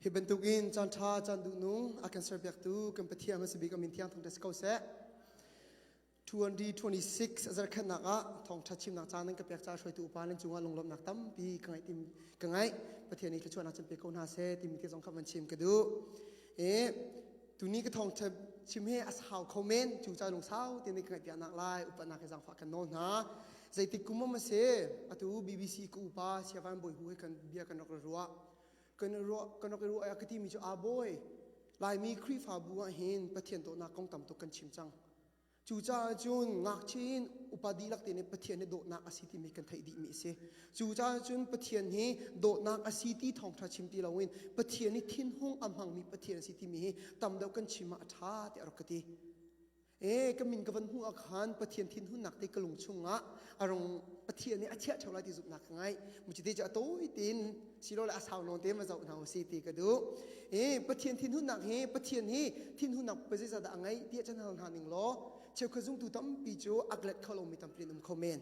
Hi bantukin caanṭha caan duhnu a kan serpiaktu kan Pathian a si bik Amin Thiang Thawngṭha si ko seh. 2026 a zarhkhatnak ah thawngṭha chimnak caan nan ka pek ca hruaitu upa nan cungah lunglawmhnak tampi ka ngaih tim ka ngaih Pathian i thluachuahnak can pe ko hna seh timi ti zong kha van chim ka duh. E tuni ka thawngṭha chim hi a hau kho men cu ca lungsau te ni ka ngaih piaknak lai upatnak hi zangfah kan nawl hna. zeitik kum a si atu bbc ka upa siavan bawi hu he kan bia kan rak i ruah kan i ruah kan rak i ruah ah ka timi cu a bawi laimi khrihfabu ah hin pathian dawtnak kong tam tuk kan chim cang cu caah cun ngakchin upadi lak te nih pathian hi dawtnak a si timi kan theih dih mi si cu caah cun pathian hi dawtnak a si ti thawngtha chim ti lo in pathian hi thinhung a hmangmi pathian a si timi hi tam deuh kan chim ah a tha tiah rak ka ti e ka min ka van hmuh ah khan pathian thinhunnak te ka lung chungah a rung pathian nih a chiah theo lai ti zumhnak ka ngai muci te cu a tawi tin silo le a sau nawn te ma zoh hna si ti ka duh e pathian thinhunnak hi pathian hi thinhunnak pa zeiza dah a ngei ti a chan hal hna ning law cheu kha zungtu tampi cu aglet kholo mi tampi an um kho men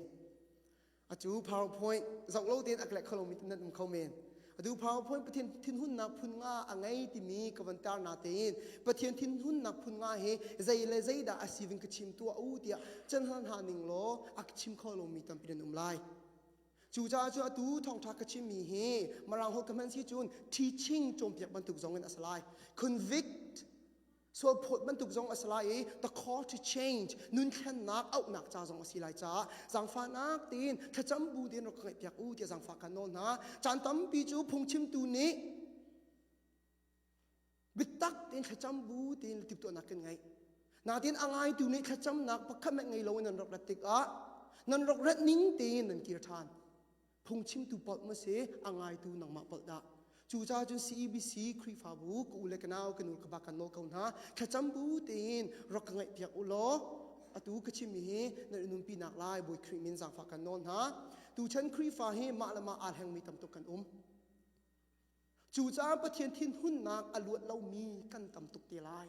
acu powerpoint zoh lo tein a klek kho lomi nan um kho men adu powerpoint pathian thinhunnak phun nga a ngei timi ka van tar na tein pathian thinhunnak phun nga hi zei le zeidah a sivin ka chim tua u tiah chan han ha ning law ak chim kho lomi tampi nan um lai cu ca cu atu thongtha ka chimmi hi marang hol ka hman si cun teaching cawmpiak bantuk zong in asalai convict Sual phawt bantuk zong a si lai i the call to change nun thlennak auhnak ca zong a si lai caah zangfahnak tiin thlacam bu tein rak ka ngaihpiak u tiah zangfah kan nawl hna. Caan tampi cu phungchimtu nih biatak tein thlacam bu tiin timhtuahnak kan ngeih. Natin a ngaitu nih thlacamnak pakhat met ngei lo in nan rak rat tikah nan rak rat ning tein nan kir ṭhan. phungchimtu polh ma se a ngaitu nangmah polh dah cucaah cun CEBC Khrihfabu ka u le ka nau ka nu ka ba kan nawl ko hna thlacam bu tein rak ka ngaihpiak u law atu ka chimmi hi nan nunpi nak lai Bawi Khrih min zangfah kan nawl hna tuchan Khrihfa hi mah le mah aa hlengmi tamtuk kan um cucaah Pathian thinhunnak a luat lomi kan tam tuk te lai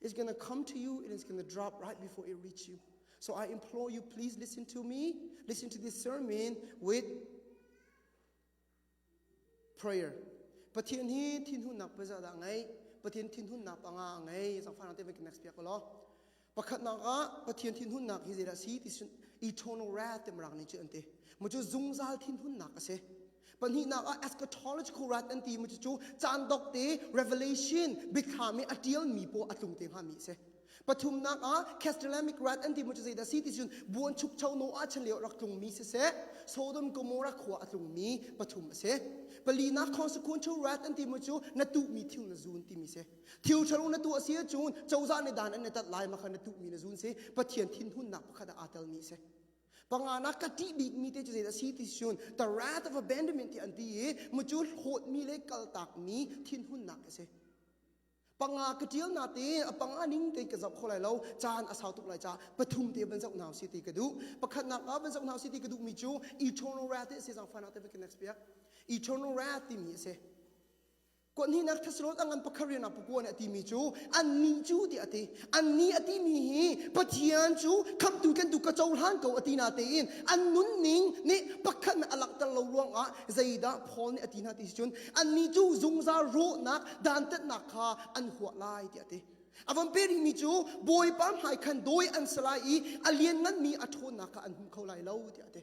is going to come to you and it's going to drop right before it reaches you. So I implore you, please listen to me, listen to this sermon with prayer. Pathian hi thinhun nak peza da ngai, Pathian thinhun nak anga ngai, so far te next piak lo. Pakhat nak ah Pathian thinhun nak hi zira si ti eternal wrath tem rang ni chu ante. Mo chu zungzal thinhun nak ase. Pahnihnak ah eschatological rite an ti mi cu caan dok te revelation biathlam i a tial mi paw a tlung te hnga mi si. Pathumnak ah castellanic rite an ti mi cu zeidah si ti cun buan chukcho no ah chan lio rak tlung mi si se Sodom Gomorrah khua a tlung mi pathum a si. Palinak consequential rite an ti mi cu na tuh mi thil na zun ti mi si. Thil thalo na tuh a si cun cozah le dan an na tat lai ma kha na tuh mi na zun si Pathian thinhunnak pakhat ah aa tel mi si. Panga na ka ti bik mi te cu zeidah si ti sun the wrath of abandonment ti an ti i mu cu hlawt mi le kal tak mi thin hun nak a si. Panga ka tial na te a panga ning te ka zoh kho lai lo caan a sau tuk lai ca pathum te ban zoh nau si ti ka du pakhat nak ah ban zoh nau si ti ka du mi cu eternal wrath ti si zang fan out of can next piak eternal wrath ti mi a si Kuahnihnak Thessalon an pakhat rian ah pakua nih a timi cu an nih cu tiah a ti an nih a timi hi Pathian cu khamhtu tlen tu ka cohlan ko a ti na tein an nunning nih pakhat a langhter lo ruangah zeidah Paul nih a ti na ti si cun an nih cu zungzal rawhnak dantatnak kha an huah lai tiah a ti a van pe rihmi cu bawipa hmai khan dawi an si lai i a liannganmi a ṭhawnnak kha an hmu kho lai lo tiah a ti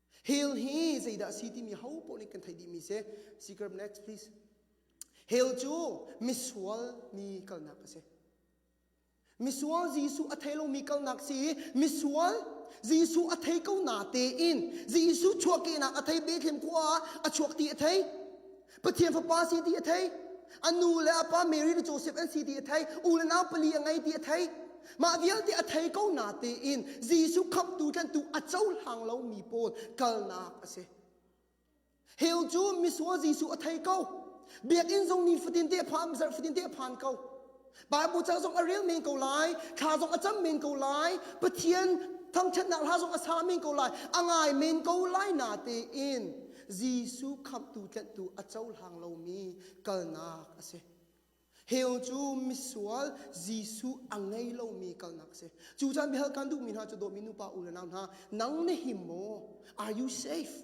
Hail hi zeidah a si timi hopoh nih kan theih dihmi si. Secret next please. Hail cu misual mi kalnak a si. Misual Jesuh a thei lomi kalnak si i misual Jesuh a thei ko na tein Jesuh chuahkehnak a thei Bethlehem khua ah a chuak ti a thei. Pathian fapa si ti a thei. A nu le a pa Mary le Joseph an si ti a thei. U le nau pali a ngei ti a thei. Mah vialte a thei ko na tiin Jesuh khamhtu tlanhtu a cohlang lomi pawl kalnak a si. Heu cu misual Jesuh a thei ko. Biakinn zong nifatin te phan, zarh fatin te phan ko. Bible cang zong a rel men ko lai, thla zong a cam men ko lai, Pathian thangṭhatnak hla zong a sa men ko lai, a ngai men ko lai na tein Jesuh khamhtu tlanhtu a cohlang lomi kalnak a si. Hell cu misual Jesuh a ngei lomi kalnak a si. Cu caan bihar kan duhmi hna cu dawmi nupa u le nau hna, nang nih hi maw, are you safe?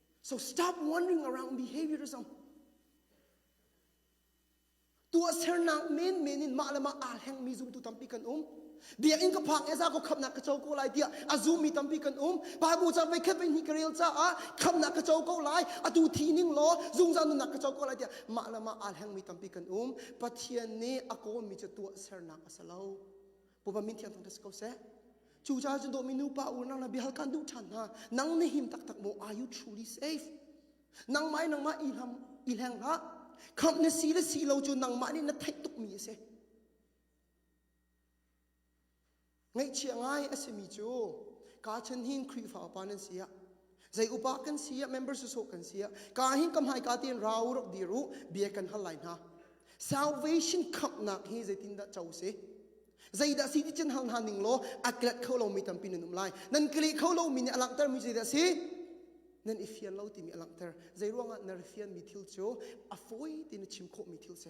So stop wondering around behaviourism. Tuahsernak menmen in mah le mah aa hleng mi zumtu tampi kan um. Biakinn ka phak eza ko khamnak ka co ko lai tiah a zum mi tampi kan um. Bible chan veikhat ve ni ka rel caah khamnak ka co ko lai atu thi ning law zungzal nunnak ka co ko lai tiah mah le mah aa hleng mi tampi kan um. Pathian nih a kawm mi cu tuah sernak a si lo. pova min thiang thang si ko seh cucaah cun dawmi nupa unang na bihal kan duh ṭhan hna nang na him taktak maw are you truly safe nangmah i nangmah i hlam i hleng hlah khamh na si le si lo cu nangmah nih na theih tukmi a si ngaihchia ngai a simi cu ka chan hin khrihfa upa nan si ah Zei upa kan si ah member susawh kan si ah ka hin ka hmai ka ten rau rak dir u bia kan hal lai hna salvation khamnak hi zeitin dah co si zeidah si ti cin hal hna ning law a klet kho lo mi tampi nan um lai nan kli kho lo mi nih a langhter mi zeidah si nan i fian lo timi a langhter zei ruangah na fian mi thil cu a fawi ti na chim khawh mi thil si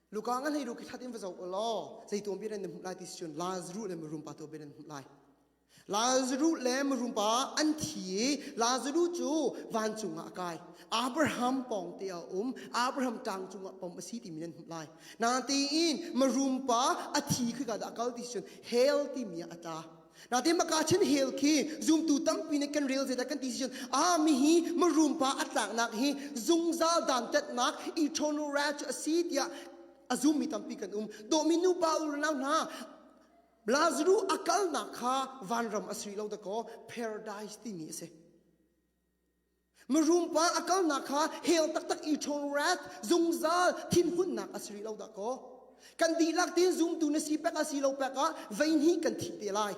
luka nga hlei ru ki that in va zo u law zeitu bi ran hmuh lai ti chun lazaru le marum pa to bi ran hmuh lai lazaru le marum pa an thi i lazaru cu van cungah a kai abraham pawng te a um abraham tang cungah pom a si ti mi nan hmuh lai na ti in marum pa a thi khi ka da kal ti chun hel ti mi a ta Natin maka chin hel khi zumtu tampi nih kan rel zedah kan ti cun ami hi marumpa atlaknak hi zungzal dantatnak eternal wrath a si tiah a zummi tampi kan um domi nupa unau hna Lazaru a kalnak kha vanram a sui lo dakaw paradise timi a si Marumpa a kalnak kha hell taktak i ṭhawn wrath zungzal thinhunnak a si rih lo dahkaw. Kan dihlak tin zumtu na si pek a si lo pek ah vei hnih kan thi te lai.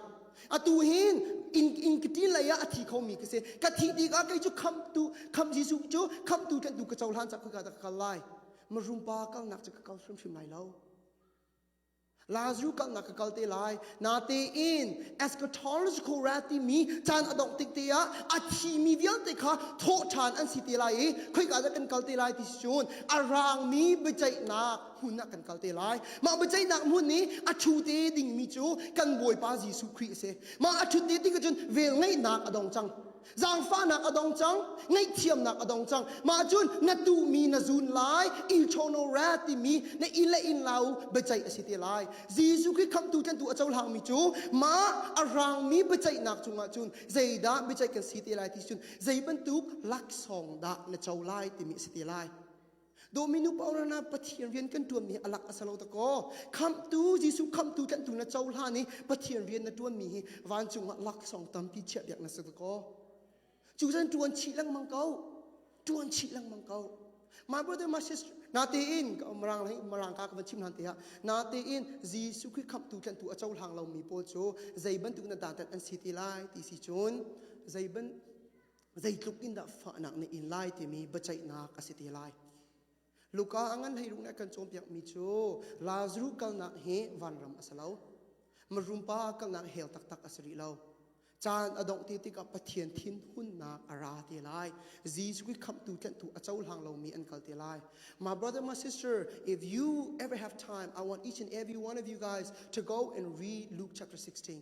Atu hin in in kiti lei ah a thi khomi ka si. Ka thi tikah kei cu khamtu kham Jesuh cu khamtu tlanh tu ka cohlan cak ka ka kal lai. Marumpa kalnak cu ka kal hrimhrim lai lo. Lazarus kalnak ka kal te lai. Natein eschatological rat timi caan a dongh tik te ah a thimi vialte kha thawhṭhan an si te lai i khoika dah kan kal te lai ti si cun a rangmi biaceihnak hmun ah kan kal te lai. Mah biaceihnak hmun i a ṭhu te dingmi cu kan Bawipa Jesuh Khrih a si. Mah a ṭhut te ding cun velngeihnak a dong cang. Zaangfahnak a dong cang, ngaihthiamnak a dong cang. Mah cun na tuhmi na zun lai, eternal wrath timi na i le in lau biaceih a si te lai. Jesuh Khrih khamhtu tlentu a cohlangmi cu mah a rangmi biaceihnak cungah cun zeidah biaceih kan si te lai ti cun zei bantuk laksawng dah na co lai timi a si te lai. Dominu paurana Pathian rian kan tuanmi hi alak asalo tako khamtu Jesu khamtu tlantu na cohlan i Pathian rian na tuanmi hi vancung ah laksawng tampi chiah biak na sakako cu zan tuan chi lengmang ko tuan chi lengmang ko my brother my sister natein ka umrang lai umrang ka ka chim han te ha natein Jesu Christ khamtu tlantu a cohlang lomi pawl cu zei bantuk na dadat an si ti lai ti si cun zei ban Zeitluk in dah fahnak nih in lai timi biaceihnak a si te lai. Luka a ngan hleiruh nih a kan cawnpiakmi cu Lazaru kalnak hi vanram a si lo. Marumpa kalnak hell taktak a si rih lo. Caan a dongh te tikah Pathian thin hunnak a ra te lai. Jesus Khrih khamhtu tlentu a cohlang lomi an kal te lai. My brother, my sister, if you ever have time, I want each and every one of you guys to go and read Luke chapter 16.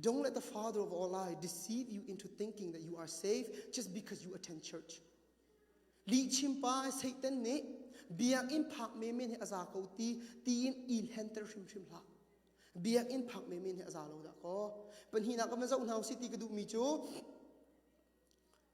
Don't let the father of all lies deceive you into thinking that you are safe just because you attend church. Lihchim pa Satan nih biakinn phak menmen he a za ko ti tiin i hlenter hrimhrim hlah. Biakinn phak menmen he a za lo dah kaw. Panhina ka ma zoh hna u si ti ka duhmi cu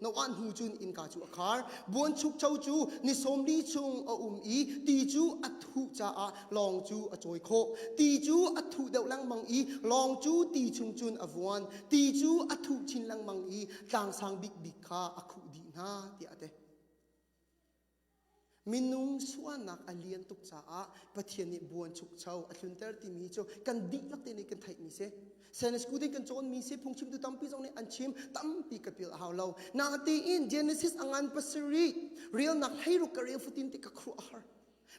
na wah hnu cun innka cu a khar buanchukcho cu ni sawmli chung a um i ti cu a thuh caah lawng cu a cawi khawh ti cu a thuh deuh lengmang i lawng cu ti chung cun a vuan ti cu a thuh chin lengmang i tlangsang bikbik kha a khuh dih hna tiah a ti Minung sualnak a lian tuk caah Pathian nih buanchukcho a hlunter timi cu kan dihlak te nih kan theihmi si. Stainless School in kan cawnmi si, phungchimtu tampi zong nih an chim, tampi ka pil a hau lo. Natein Genesis a ngan pasarih, relnak hleiruk ka rel futin ti ka khuh a har.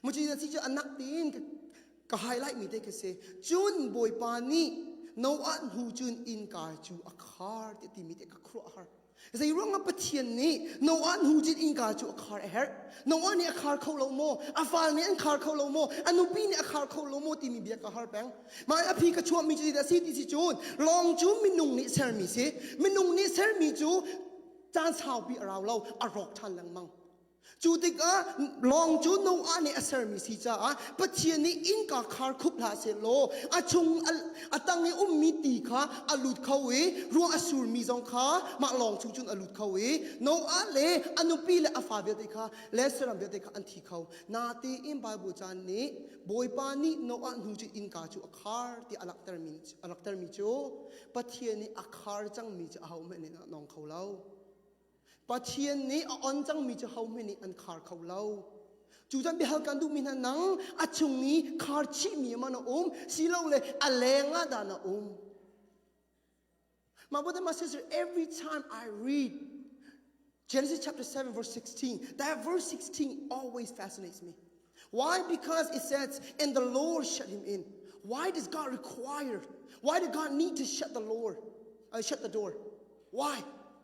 Muci na si cu anak tein ka, ka highlightmi te ka si. Cun Bawipa nih Noah hnu cun inkai cu a khar ti timi te ka khuh a har. Zeiruangah Pathian nih Noah hnujit innka cu a khar a herh? Noah nih a khar kho lo maw? A fal nih an khar kho lo maw? A nupi nih a khar kho lo maw timi bia ka har peng. Mah a phi ka chuahmi cu zeidah a si ti si cun lawng cu minung nih sermi si. Minung nih sermi cu caan saupi a rau lo, a rawk ṭhan lengmang. Cu tikah lawng cu Noah nih a sermi si caah Pathian nih innka khar khup hlah sehlaw a chung a tang i ummi ti kha a lut kho i ruah a surmi zong kha mah lawng chung cun a lut kho i Noah le a nupi le a fa vialte kha le saram vialte kha an thi kho. Natein Bible caan nih Bawipa nih Noah hnu cu innka cu a khar tiah a langhtermi a langhtermi cu Pathian nih a khar cangmi cu ahohmanh nih a nawng kho lo. Pathian nih a on cangmi cu hohmanh nih an khar kho lo. Cu cun biahal kan duhmi hna nang a chung i khar chihmi man a um silole a leng ah dah na um. My brother, my sister, every time I read Genesis chapter 7, verse 16, that verse 16 always fascinates me. Why? Because it says, and the Lord shut him in. Why does God require? Why did God need to shut the Lord, uh, shut the door? Why?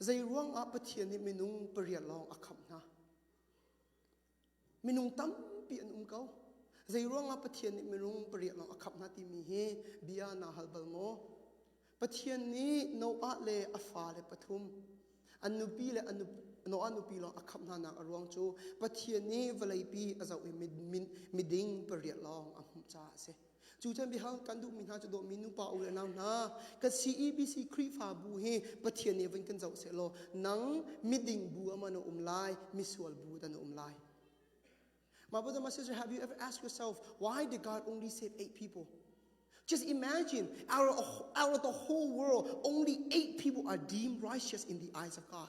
Zeiruangah Pathian nih minung pariat lawng a khamh hna? Minung tampi an um ko. Zeiruangah Pathian nih minung pariat lawng a khamh hna timi hi bia naa hal bal maw? Pathian nih Noah le a fale pathum, an nupi le an Noah nupi lawng a khamh hnanak a ruang cu Pathian nih vawleipi a zoh i miding pariat lawng a hmuh caah a si. Cu chan biahang kan duhmi hna cu dawmi nupa u le nau hna kan CEBC Khrihfabu hi Pathian nih vun kan zoh seh law nang miding bu aman a um lai misual bu dan a um lai My brother my sister have you ever asked yourself why did God only save eight people just imagine out of, out of the whole world only eight people are deemed righteous in the eyes of God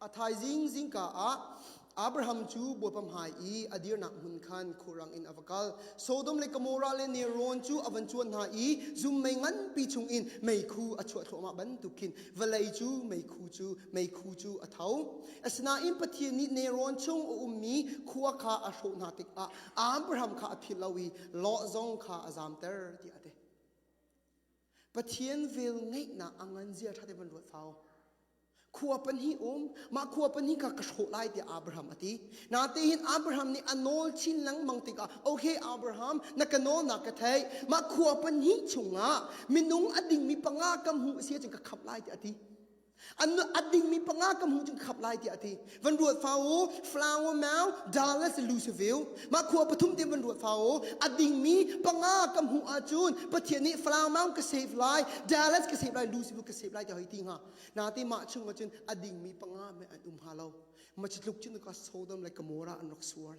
A thaizing zingka ah Abraham cu bawipa hmai i a dirnak hmun khan khurang in a va kal. Sodom le Gomorrah le Neron cu a van cuan hna i zum mei nganpi chungin meikhu a chuah thluahmah bantukin vawlei cu meikhu cu meikhu cu a tho. Asinain Pathian nih Neron chung a ummi khua kha a hrawh hna tikah Abraham kha a philh lo i Lot zong kha a zamter tiah a ti. Pathian vel ngeihnak a nganzia ṭha te van ruat fau. Khua pahnih um, mah khua pahnih kha ka hrawh lai tiah Abraham a ti. Natein Abraham nih a nawl chin lengmang tikah, okay Abraham, na ka nawl na ka theih. Mah khua pahnih chungah minung a dingmi panga ka hmu a si ahcun ka khamh lai tiah a ti. an a dingmi panga ka hmu cu khap lai tiah a ti van ruat fa u flower mau dala se luciveu mah khua pathum te van ruat fa u a dingmi panga ka hmu ahcun pathian nih flower mau ka save lai dallas ka save lai luciveu ka save lai ti hoi ti hnga na ti mah chung ahcun a dingmi panga me an um ha lo ma ci tluk cun ka sodom le gomorrah an rak suar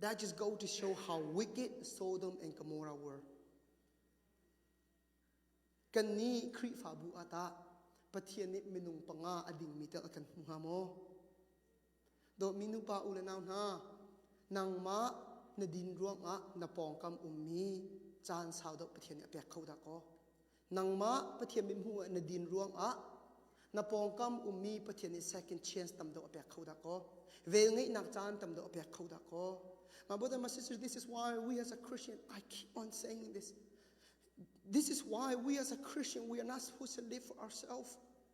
That just go to show how wicked Sodom and Gomorrah were. Kan nih Khrihfabu ah tah Pathian nih minung panga a dingmi tal kan hmu hnga maw? Dawtmi nupa u le nau hna, nangmah na din ruangah na pawngkam ummi caan sau deuh Pathian nih a pek kho dah kaw? nangmah Pathian mit hmuh na din ruangah na pawngkam ummi Pathian nih second chance tam deuh a pek kho dah kaw velngeihnak caan tam deuh a pek kho dah kaw my brother and my sister this is why we as a Christian I keep on saying this this is why we as a Christian we are not supposed to live for ourselves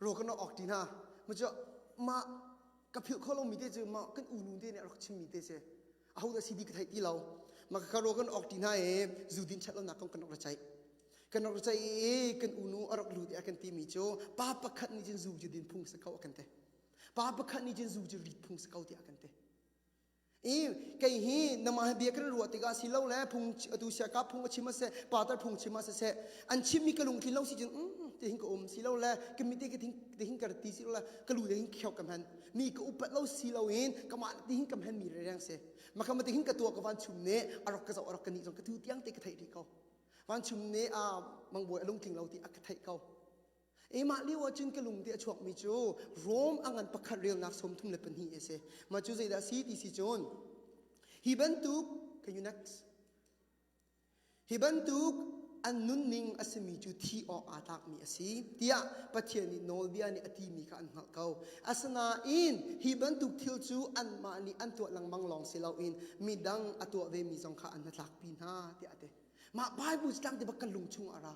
ro kan rak awk ti hna ma cu mah ka philh kho lomi te cu mah kan unu te nih a rak chimmi te si a ho dah si di ka theih ti lo ma ka ro kan awk ti hna i zu din chat lonak kong kan rak ra ceih kan rak ceih i kan unu a rak lut i a kan timi cu pa pakhat nih cun zu cu din phung si ko a kan ti pa pakhat nih cun zu cu rit phung si ko tiah a kan ti i kei hi nama bia kan ruah tikah si lo le phung atu sia ka phung a chim ase patar phung chim a se an chim mi ka lungtlin lo si cun mm, te hin ka um si lo le ka mite ka te hin ka ti si lo le ka lu te hin khiok ka hman mi ka upat lo si lo in ka ma te hin ka hman mi reng se ma ka ma te hin ka tua ka van chum ne arok ka zo arok ka ni zong ka tu tiang te ka thei ri ko van chum ne a mangbo lungtling lo ti a ka thei ko Eimah lio ahcun ka lungdi a chuakmi cu Rome a ngan pakhat relnak sawmthum le pahnih a si. Mah cu zeidah a si ti si cun, hi bantuk, can you next? Hi bantuk an nunning a simi cu thih awk aa tlakmi a si tiah Pathian nih nawlbia nih a timi kha an hngalh ko. Asinain hi bantuk thil cu anmah nih an tuah lengmang lawng si loin midang a tuah vemi zong kha an hnatlakpi hna tiah a ti. Mah Baibal cu tlangte bak kan lung chungah a ra.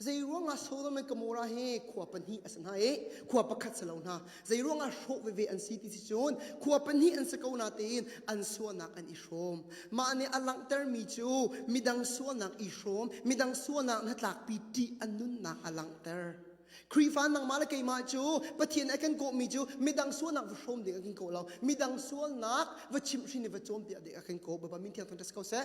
Zeiruangah Sodom and Gomorrah hi khua pahnih a si hna i khua pakhat si lo hna. Zeiruangah hrawh veve an si ti si cun khua pahnih an si ko natein an sualnak an i hrawm. Mah nih a langhtermi cu midang sualnak i hrawm, midang sualnak hnatlakpi ṭih a nunnak a langhter. Khrihfa nangmah le keimah cu Pathian nih a kan kawhmi cu midang sualnak va hrawm ding a kan ko lo. Midang sualnak va chimh hrin i va cawm tiah dek a kan kawh. Bawipa min thiang thang ka si ko seh.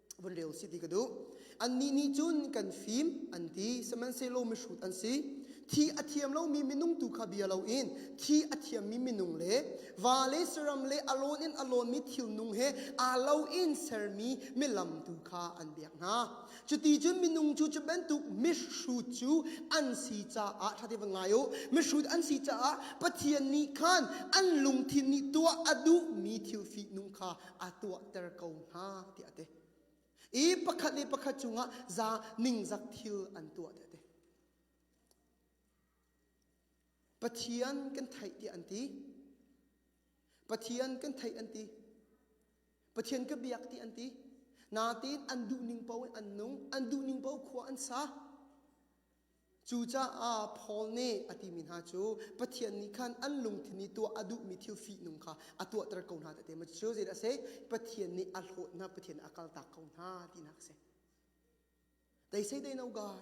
vun leo si ti ka duh annih nih cun kan fim an ti sihmanhsehlaw mihrut an si thi a thiam lomi minung tu kha bia loin thi a thiammi minung le va le siram le a lawn in a lawnmi thil nung he aa lo in sermi milam tu kha an biak hna cuti cun minung cu cu bantuk mihrut cu an si caah ṭha te van ngai u mihrut an si caah pathian nih khan an lungthin nih tuah a duhmi thil fihnung kha aa tuahter ko hna tiah a ti i pakhat le pakhat cungah za ningzak thil an tuah tiah a ti pathian kan theih tiah an ti pathian kan theih an ti pathian ka biak ti an ti natin an duh ning po in an nung an duh ning po khua an sa Cucaah Paul nih a timi hna cu Pathian nih khan an lungthin i tuah a duhmi thil fihnung kha a tuahter ko hna tete. Cu zeidah a si? Pathian nih a hlawtnak Pathian a kaltak ko hna tinak a si. They say they know God,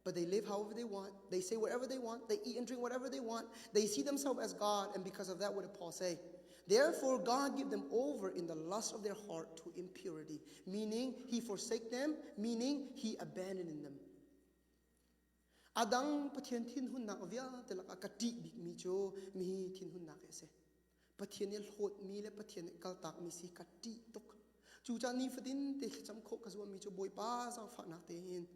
but they live however they want. They say whatever they want. They eat and drink whatever they want. They see themselves as God, and because of that, what did Paul say? Therefore, God gave them over in the lust of their heart to impurity, meaning He forsake them, meaning He abandoned them. A dang Pathian thinhunnak vialte lakah ka ṭih bikmi cu mi thinhunnak hi a si. Pathian i hlawtmi le Pathian i kaltakmi si ka ṭih tuk. Cucaah nifatin te thlacam khawh ka zuammi cu Bawipa zaangfahnak tein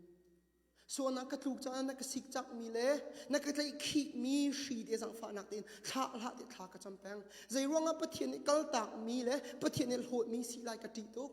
sualnak ka tluk caah na ka sikcakmi le na ka tlaihkhihmi hri te zaangfahnak tein thla hlah te thla ka cam peng. Zeiruangah Pathian i kaltakmi le Pathian i hlawtmi si lai ka ṭih tuk.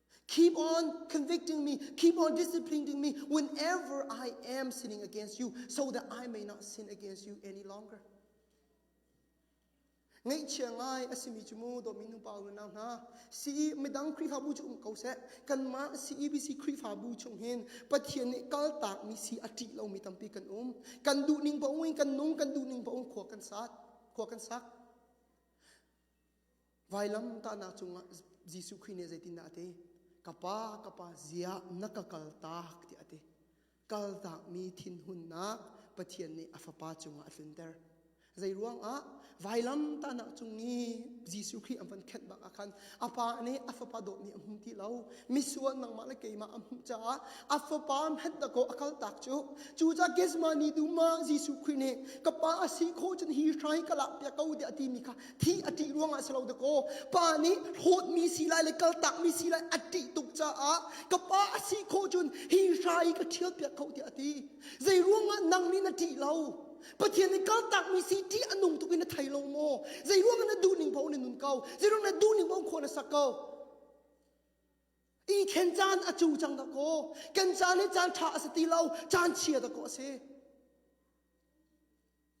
Keep on convicting me, keep on disciplining me whenever I am sinning against you, so that I may not sin against you any longer. Ngaihchia ngai a simi cu mu do min pa nu nau hna si midang khrihfabu cu um ko seh kanmah CEBC khrihfabu chung hin Pathian nih kaltak mi si a ṭih lomi tampi kan um kan duh ning pa um in kan nung kan duh ning pa um khua kan sat khua kan sak Vailam tahnak cungah Jesuh Khrih nih zeitindah a ti? Ka pa, ka pa, ziah na ka kal tak tiah a ti. Kaltakmi thinhunnak Pathian nih a Fapa cungah a tlunter. Zei ruangah? Vailam tahnak cung i Jesuh Khrih an van khenh bak ah khan a pa nih a fapa dawt nih a hmu ti lo. Misual nangmah le keimah a hmuh caah a fapa hmetdakaw a kaltak cu. Cucaah Gethsemane dum ah Jesuh Khrih nih ka pa a si khawh cun hi hrai ka lak piak ko tiah a timi kha thi a ṭih ruangah si lo dakaw pa nih hlawtmi si lai le kaltakmi si lai a ṭih tuk caah ka pa a si kho cun hi hra i ka ṭhial piak kho tiah a ti zei ruangah nang nih na ṭih lo Pathian nih kaltakmi si ṭih a nung tuk in na thei lo maw zei ruangah na duhning paoh na nun ko zei ruangah na duhning paoh khua na sak ko i khen caan a cu cang dakaw kan caan hi caan ṭha a si ti lo caan chia dakaw a si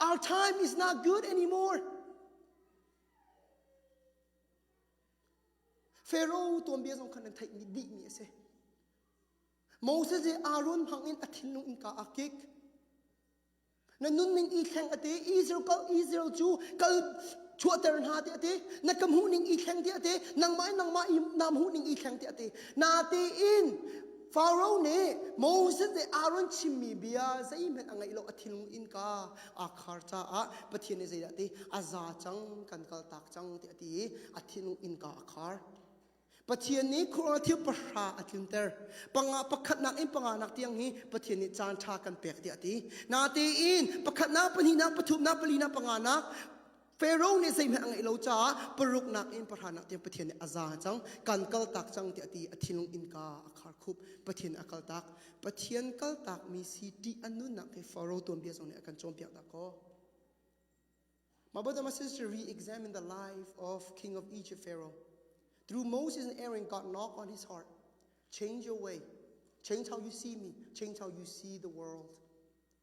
Our time is not good anymore. Pharaoh tuanbia zong khan an theih mi dih mi a si. Moses i Aaron hmang in a thinlung innka aa kik. Na nunning i thleng a ti. Israel ka Israel cu kal chuahter hna ti a ti. Na ka hmuhning i thleng ti a ti. Nangmah nangmah i nam hmuhning i thleng ti a ti. Natiin Pharaoh nih Moses nih Aaron chimmi bia zeihmanh a ngaih lo a thinlung innka aa khar caah Pathian nih zeidah ti a za cang kan kal tak cang ti a ti i a thinlung innka a khar. Pathian nih Quran thil pahra a tlunter. Panga pakhatnak in panganak tiang hi Pathian nih caan ṭha kan pek tiah a ti. Natein pakhatnak, pahnihnak, pathumnak, palinak, panganak Pharaoh nih zeihmanh a ngeih lo caah paruknak in pahranak tiang Pathian nih a za cang kan kal tak cang tiah ti a thinlung innka a khar khup Pathian a kal tak Pathian kal tak mi si ṭih a nunnak he Pharaoh tuanbia zong nih a kan cawnpiak dah kaw My brother, my sister, re-examine the life of king of Egypt, Pharaoh. Through Moses and Aaron, God knocked on his heart. Change your way. Change how you see me. Change how you see the world.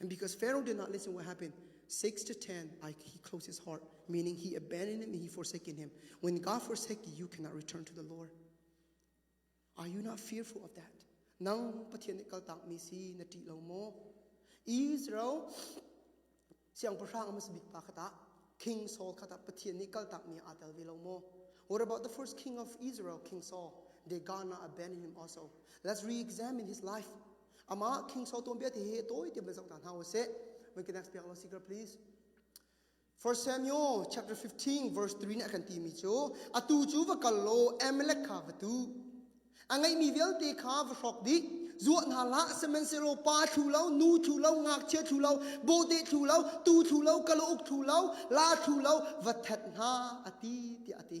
And because Pharaoh did not listen, what happened? 6 to 10, I, he closed his heart, meaning he abandoned him and he forsaken him. When God forsake you, you cannot return to the Lord. Are you not fearful of that? Nang Pathian nih kaltak mi si na ti lo maw? Israel siangpahrang amas bik pa kata King Saul kata Pathian nih kaltak mi atel ve lo maw? What about the first king of Israel, King Saul? Did God not abandon him also? Let's re-examine his life. Amah King Saul tuanbia te hi tawi tiam le zong hna hna ho se. We can expect our secret please. 1 Samuel chapter 15 verse 3 nih a kan ti mi cu atu cu va kal law Amalek kha va tu a ngei mi vialte kha va hrawk dih zuah hna la sihmanhsehlaw pa thlu lo nu thlu lo ngakchia thlu lo bawhte thlu lo tu thlu lo kalauk thlu lo la thlu lo va that hna a ti ti a ti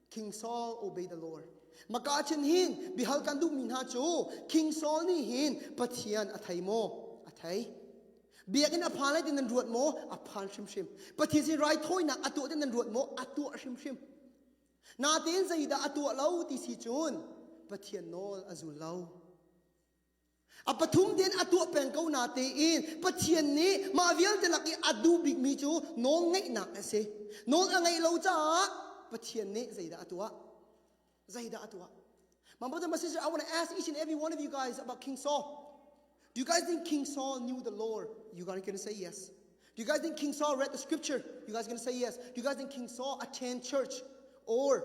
King Saul obey the Lord. Maka chin hin bihal kan duh mi hna cu King Saul nih hin Pathian a thei maw? A thei. Biakinn a phan lai tin nan ruat maw? A phan hrimhrim. Pathian sin raithawinak a tuah tin nan ruat maw? A tuah hrimhrim. Natein zeidah a tuah lo ti si cun Pathian nawl a zul lo. A pathum tein a tuah peng ko na tein Pathian nih mah vialte lak i a duh bikmi cu nawl ngeihnak a si. Nawl a ngeih lo caah Pathian nih zeidah a tuah? Zeidah a tuah? My brother, my sister, I want to ask each and every one of you guys about King Saul. Do you guys think King Saul knew the Lord? You guys gonna say yes. Do you guys think King Saul read the scripture? You guys gonna say yes. Do you guys think King Saul attend church or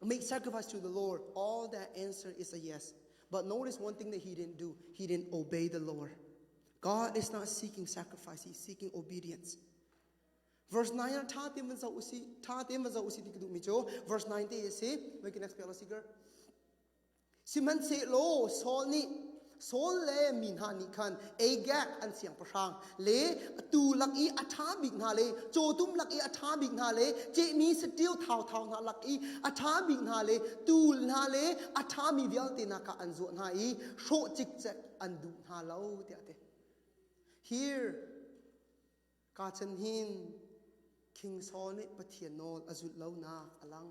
make sacrifice to the Lord? All that answer is a yes. But notice one thing that he didn't do, he didn't obey the Lord. God is not seeking sacrifice, he's seeking obedience. Verse 9 ah tha tein van zoh usi, tha tein van zoh usi ti ka duh mi cu verse 9 te asi. Make next page usi ger. Sihmanhsehlaw Saul nih Saul le mi hna nih khan Agag an siangpahrang le atu lak i a ṭha bik hna le cawtum lak i a ṭha bik hna le cehmi saṭil thauthau hna lak i a ṭha bik hna le tul hna le a ṭhami vialte nakah an zuah hna i hrawh cikcek an duh hna lo tiah te here ka chan hin King Saul nih Pathian nawl a zulh lonak a lang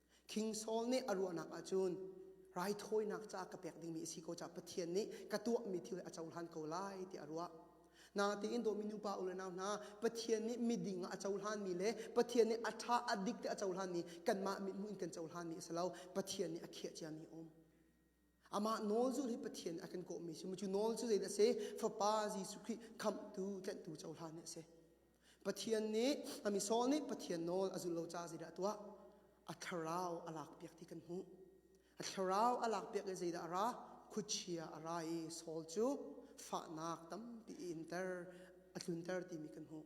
King Saul nih a ruahnak ahcun raithawinak ca ka pek dingmi a si ko caah Pathian nih ka tuahmi thil a cohlan ko lai tiah a ruah. Natein Dominu pa u le nau hna, Pathian nih miding ah a cohlanmi le Pathian nih a ṭha a dik ti a cohlanmi kanmah mithmuh in kan cohlanmi a si lo, Pathian nih a khiah ciami a um. Amah nawl zulh hi Pathian a kan kawhmi si. Cu nawl cu zeidah a si? Fapa Jesuh Khrih khamhtu, tlanhtu cohlan hi a si. Pathian nih, a misol nih Pathian nawl a zulh lo caah zeidah a tuah? A thlarau a lakpiak ti kan hmuh. A thlarau a lakpiak i zeidah a ra? Khuachia a ra i Saul cu fahnak tampi i inter, a tlunter timi kan hmuh.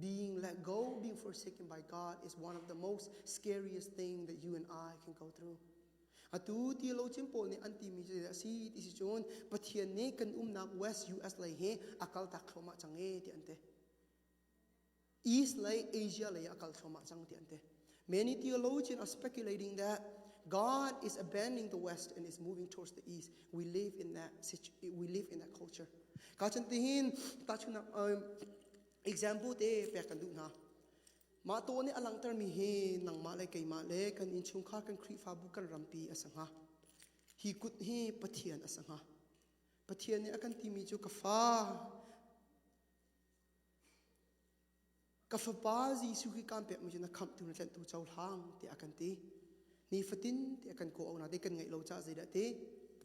Being let go, being forsaken by God is one of the most scariest thing that you and I can go through. Atu ti lo chin pawl nih an ti mi cu a si ti si cun Pathian nih kan umnak West US lei hi a kal tak thluahmah cang e ti an ti. East lei Asia lei a kal thluahmah cang ti an ti. Many theologians are speculating that God is abandoning the West and is moving towards the East. We live in that we live in that culture. Ka chan tihin ta chunak um example te pek kan duh hna mah to nih a langtermi hi nangmah le keimah le kan innchungkhar kan khrihfabu kan rampi a sa hnga hi kut hi pathian a sa hnga pathian nih a kan timi cu ka fa ka fapa jesuh khi kan pek mi cu na khamhtu na tlentu cohlang ti a kan ti ni fatin ti a kan ko awnak de kan ngeih lo ca zeidah ti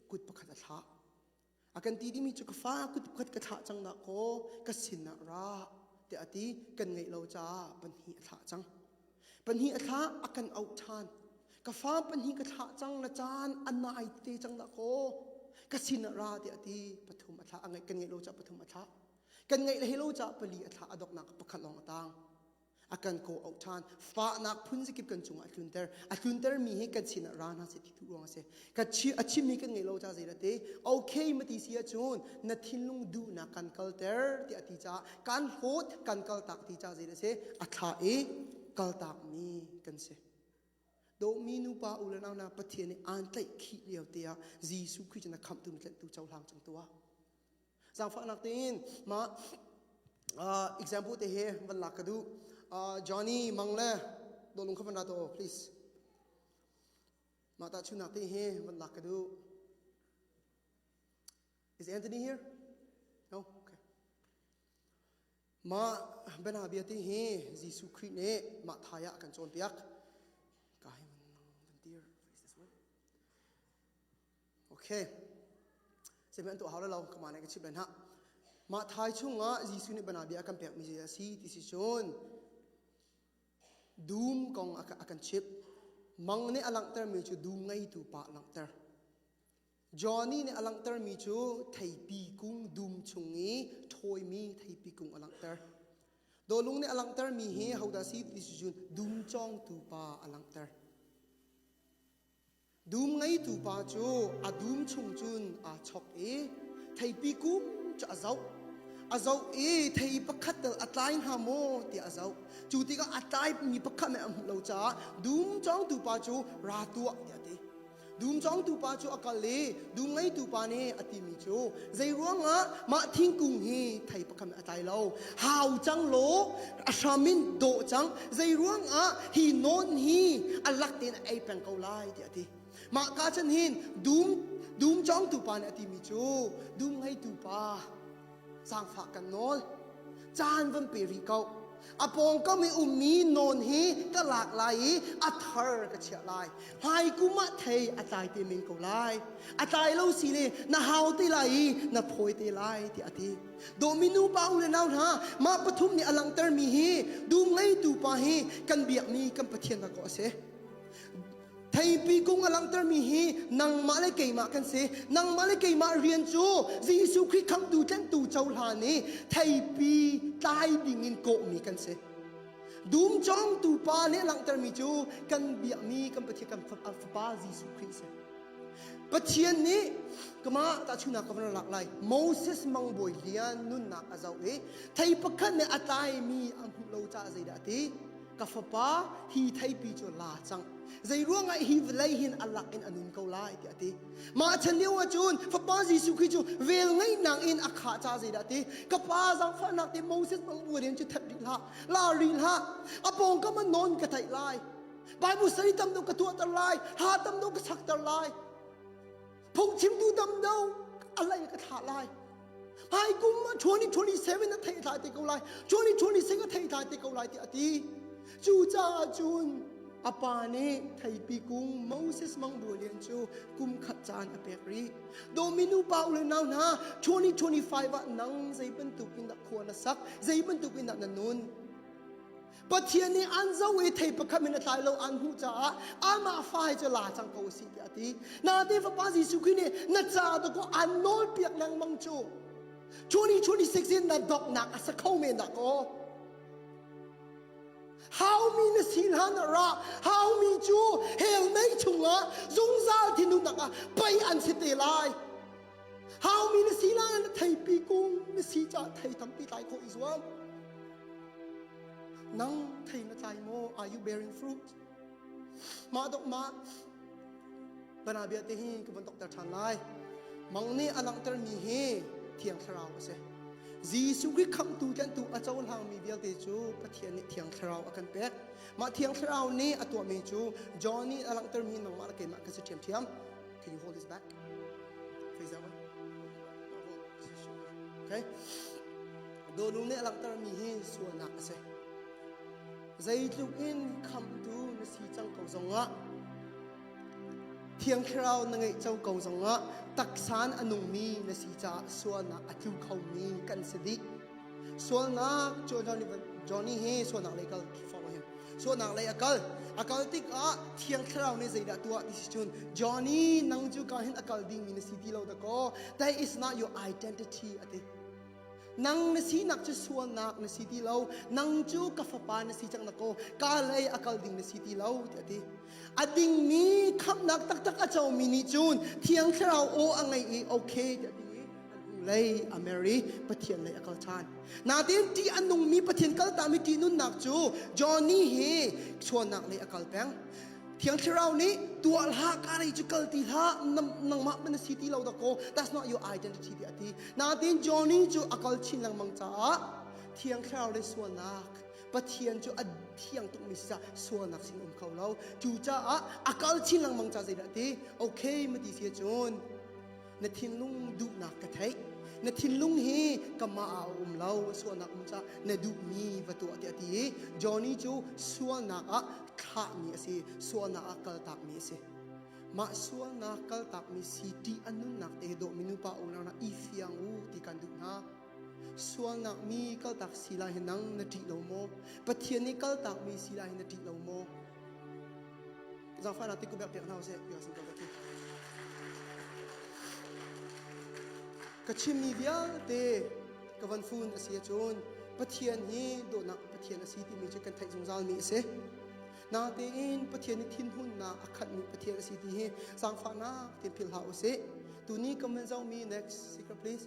kut pakhat a thlah A kan ti dimi cu ka fa kutkhat ka thlah cang da kaw ka sinah ra te a ti kan ngeih lo caah pahnih a thlah cang pahnih a thlah a kan auh ṭhan ka fa pahnih ka thlah cang le caan a nai te cang da kaw ka sinah ra te a ti pathum a thlah a ngeih kan ngeih lo caah pathum a thlah kan ngeih le he lo caah pali a thlah a doknak pakhat lawng a tang a kan ko auh than fahnak phun zikip kan cung a tlunter a tlunter mi hi kan sin ah ra hna se ti tu ruang se ka a chim mi kan ngei lo cha zeira te okay ma ti si a cun na thinlung duhnak kan kalter ti a ti cha kan hlawt kan kal tak ti cha zeira se a thla e kal tak mi kan se do mi nu pa u le nau na pathian ni an tlai khi liau te a jesu christ na kham tum tlet tu chau hlang chung tua Zaangfahnak tein mah uh, example te he van lak ka duh. Uh, Johnny Mang le dolung kha van ra to please. Mah ta chunak te he van lak ka duh. Is Anthony here? No? Okay. Mah bena bia te he Jesuh Christ ne mah thaya kan cawn piak. Kai van tir. Okay. Sehme an tuah hau lo kama nih ka chimh hna. Mah thai chungah Jesuh nih bana bia a kan pekmi a si ti si cun dum kong a kan chimh. Mang nih a langhtermi cu dum ngeitu pa a langhter. Johnny nih a langhtermi cu theipi kung dum chung i thawimi theipi kung a langhter. Dolung nih a langhtermi hi hodah si ti si cun dum cawngtu pa a langhter. Dum ngeitu pa cu a dum chung cun aa chok i theipi kum cu a zoh. A zoh i thei pakhat tal a tlai hna maw tiah a zoh. Cu tikah a tlaimi pakhat nih a hmuh lo caah dum cawngtu pa cu ra tuah tiah a ti. Dum cawngtu pa cu a kal i Dum ngeitu pa nih a timi cu zeiruangah mah thingkung hi thei pakhat a tlai lo hau cang law a hram in dawh cang zeiruangah hi nawn hi a lak tein a ei peng ko lai tiah a ti mah ka chan hin dum dum congtu pa nih a timi cu dum ngeitu pa Zaangfah kan nawl. Caan van pe rih ko. A pawngkam i ummi nawn hi ka lak lai i a thar ka chiah lai. Hi kum ah thei a tlai te men ko lai. A tlai lo si ne na hau te lai i na phawi te lai ti a ti. Dominu pa u le nau hna mah pathum nih a langhtermi hi dum ngeitu pa hi kan biakmi kan Pathian ha kaw a si. Theipi kung a langhtermi hi nangmah le keimah kan si. Nangmah le keimah rian cu Jesuh Khrih Khamhtu tlentu cohlan i theipi tlai dingin kawhmi kan si. Dum cawngtu pa nih langhtermi cu kan biakmi kan Pathian kan Fapa Jesuh Khrih si. Pathian nih kamah tahchuhnak ka van lak lai Moses mangbawi lian nunnak a zoh i thei pakhat nih a tlaimi a hmuh lo caah zeidah a ti ka fapa hi theipi cu la cang zei ruangah hi vawlei hin alak in anun ko lai tiah ti mah chan lio ahcun fapa jesuh khi cu vel ngeihnak in a khah ca zeidah ti ka pa zangfahnak ti moses bang rual hin cu that rih hlah la rih hlah a pawngkam an non ka theih lai bible study tam do ka tuahter lai ha tam do ka sakter lai Phungchimtu damdo a lei ka thlah lai. Hai kum ma 2027 a thei thai te ko lai. 2026 a thei thai te ko lai ti a ti. Cu caah cun a pa nih theipi kung Moses Mang Bua Lian cu kum khat caan a pek rih. Dominu pa u le nau hna 2025 ah nang zei bantuk in dah khua na sak, zei bantuk in dah na nun. Pathian nih an zo i thei pakhat in a tlai lo an hmuh caah amah fa he cu la cang ko si tiah a ti. Na ti fapa Jesuh Khrih nih na caah tu ko an nawl piak lengmang cu. 2026 in na donghnak a sa kho men dah kaw. Haumi na si hlan ra haumi cu hell mei chungah zungzal thinhunnak ah pei an si te lai. haumi na si lai na theipi kung na si caah thei tampi tlai khawh i zuam nang thei na tlai maw are you bearing fruit mah dok mah bana bia te hi ka von tok ter than lai mang ni alang ter mi hi thiang thlarau a si Jesu Christ khamtu tlantu a cohlang mi vialte cu Pathian nih thiang thlarau a kan pek mah thiang thlarau nih a tuahmi cu John nih a langhter mi nangmah le keimah ka si ṭhiamṭhiam Can you hold this back? Face that way. Okay. Donu nih langhtermi hi sualnak a si. Zeitluk in khamtu na si cang ko zongah Thiang Thlarau na ngeih co ko zongah taksan a nungmi na si caah sualnak a tlu khomi kan si dih. sualnak Johnny he sualnak lei kal forh hin sualnak lei a kal a kal tik ah thiang thlarau nih zeidah tuah ti si cun Johnny nang cu ka hin a kal dingmi na si ti lo da kaw that is not your identity a ti nang na sinak cu sualnak na si ti lo nang cu ka fapa na si cang da kaw ka lei a kal ding na si ti lo ti a ti a dingmi khamhnak taktak a comi nih cun thiang thlarau aw a ngei i okay tiah a ti lei a Mary Pathian lei a kal ṭhan natin ṭih a nungmi Pathian kaltakmi ṭihnunnak cu Johnny hi sualnak lei a kal peng Thiang Thlarau nih tuah hlah karei cu kal ti hlah nangmah man si ti lo da ko that's not your identity ti a ti natin Johnny cu a kal chin lengmang caah Thiang Thlarau le sualnak Pathian cu a thiang tukmi sisah sualnak sin um kho lo cucaah a kal chin lengmang ca zeidah ti okay ma ti si cun na thinlung duhnak ka theih na thinlung hi kamah ah a um lo sualnak um ca na duhmi va tuah tiah ti i Johnny cu sualnak ah thlahmi a si sualnak ah kaltakmi a si mah sualnak kaltakmi si ṭih a nunnak te dawhmi nupa unau i fiang u ti kan duh hna Sualngakmi kaltak si lai hi nang na ṭih lo maw? Pathian nih kaltakmi si lai hi na ṭih lo maw? Zaangfahnak ti ku bek pek hna sih, you asin ko ka ti. Ka chimmi vialte ka van fun a si ahcun Pathian hi dawtnak Pathian a si timi cu kan theih zungzalmi a si. Natein Pathian nih thinhunnak a khatmi Pathian a si ti hi zaangfahnak tein philh hlah u sih. Tuni ka min zomi next secret please.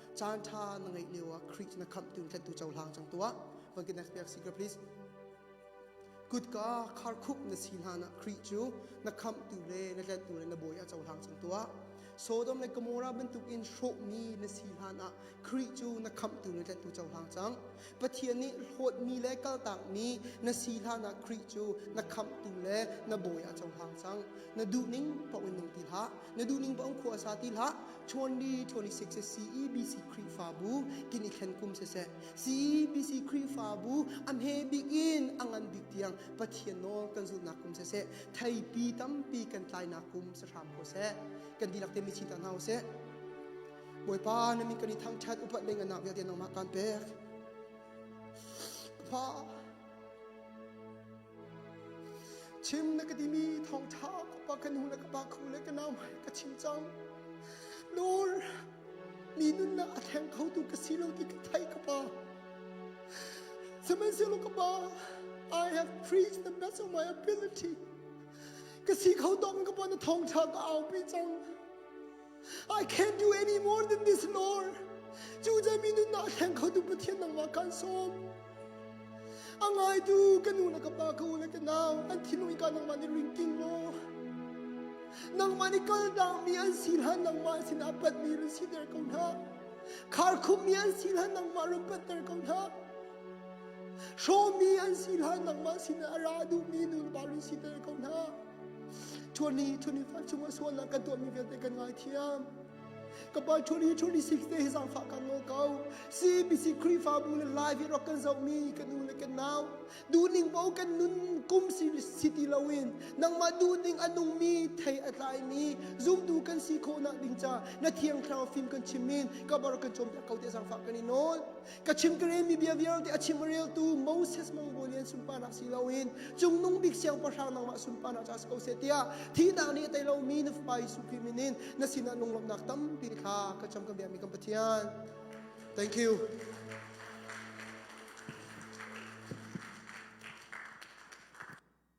caanṭha na ngeih lio ah Greek na khamh tu tlettu cohlang cang tuah. One can next piak secret please. Kutka kharkhuk na si hlan ah Greek cu na khamhtu le na tlettu le na bawi ah cohlang cang tuah. Sodom le Gomorrah bantuk in hrawhmi na si hlan ah Greek cu na khamhtu le tlettu cohlang cang. Pathian nih hlawtmi le kaltakmi na si hlanah Khrih cu na khamhtu le na bawi a cohlang cang. Na duhning paoh in nung ti hlah. Na duhning paoh in khuasa ti hlah. 2026 a CEBC Khrihfabu kin i thlen kum siseh, CEBC Khrihfabu a hme bik in a ngan bik tiang Pathian nawl kan zulhnak kum siseh, theipi tampi kan tlainak kum si hram ko seh. Kan dihlak te mi chinta hna u sih. Bawipa na min kan i thangṭhat upat ding anak vialte nangmah kan pek. Fa chim na ka dimi thawngṭha ka pa kan hu le ka pa khu le ka nau ka chim cang. Lord mi nunnak a thleng kho tu ka si lo ti ka thai ka pa. Sihmanhsehlaw ka pa I have preached the best of my ability. Ka si kho tawk ka pa na thawngṭha ka aupi cang. I can't do any more than this, Lord. Cuca mi nun ah thleng kho tu Pathian nangmah kan sawm. A ngaitu ka nu na ka pa ka u le tenau an thinlung ka nangmah ni rin ting mo. Nangmah ni kal dang mi an si hlan nangmah sin ah pat mi rin si der ko na. Khar khum mi an si hlan nangmah rin pat der ko na. Show mi an si hlan nangmah sin a ra du mi nun ba rin si der ko na. 25 chung a sual lah kan tuahmi vialte kan ngaithiam ka pa 2026 te hi zangfah kan ngo ko CBC Khrihfabu le live i rak kan zohmi kan nu le kan nau duning bo kan nun kum si city lo in nangmah duning a nungmi thei a tlaimi zumtu kan si khawh nak ding ca na thiang thlarau fim kan chim min ka bar kan chom te ko te zangfah kan i nawl ka chim ka relmi bia vialte a chim reltu Moses mangbawi lian sunparnak si loin cungnung bik siangpahrang nangmah sunparnak ca si ko seh tiah thihnak nih tei lomi na fapa Jesuh Khrih minin na sinah lunglawmhnak tampi kha ka cam ka biami kan Pathian thank you